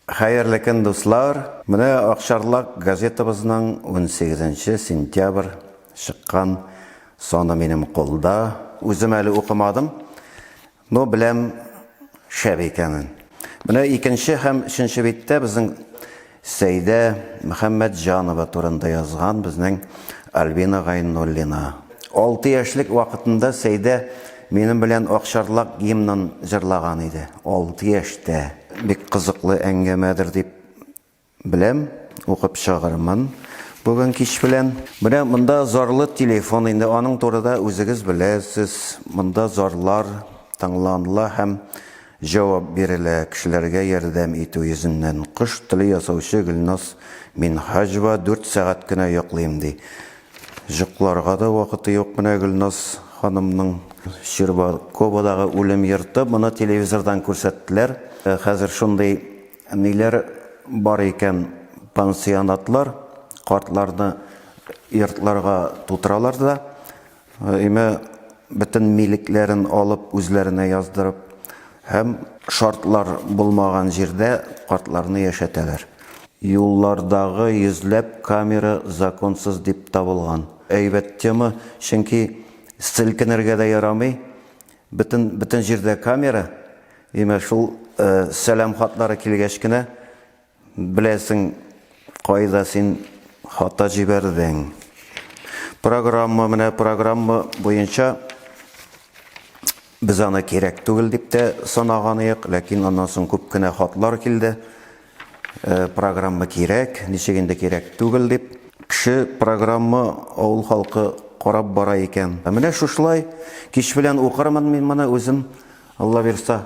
Хәерле көн дуслар! Менә Акчарлак газетабызның унсигезенче сентябрь чыккан саны минем кулда. Үзем әле укымадым, но беләм шәп икәнен. Менә икенче һәм өченче биттә безнең Сәйдә Мөхәммәтҗанова турында язган безнең Альбина Гайнуллина. Алты яшьлек вакытында Сәйдә минем белән Акчарлак гимнын җырлаган иде. Алты яшьтә! Бик кызыклы әңгәмәдер дип беләм, укып чыгармын бүген кич белән. Менә монда зарлы телефон, инде аның турыда үзегез беләсез, монда зарлар тыңланыла һәм җавап бирелә, кешеләргә ярдәм итү йөзеннән. Кош теле ясаучы Гөлназ Минһаҗева дүрт сәгать кенә йоклыйм ди. Җокларга да вакыты юк менә Гөлназ ханымның. Щербаководагы үлем йорты, моны телевизордан күрсәттеләр. Хәзер шундый ниләр бар икән, пансионатлар, картларны йортларга тутыралар да, өймә бөтен милекләрен алып, үзләренә яздырып, Һәм шартлар булмаган җирдә картларны яшәтәләр. Юллардагы йөзләп камера законсыз дип табылган. Әйбәт тема, чөнки селкенергә дә ярамый, бөтен, бөтен җирдә камера. Димәк, шул сәлам хатлары килгәч кенә Беләсең кайда син хата җибәрдең. Программа, менә программа буенча без аны кирәк түгел дип тә санаган идек, ләкин аннан соң күп кенә хатлар килде. Э, программа кирәк, ничек инде кирәк түгел дип. Кеше программа авыл халкы карап бара икән. Ә менә шушылай кич белән укырмын мин моны үзем, Алла бирса.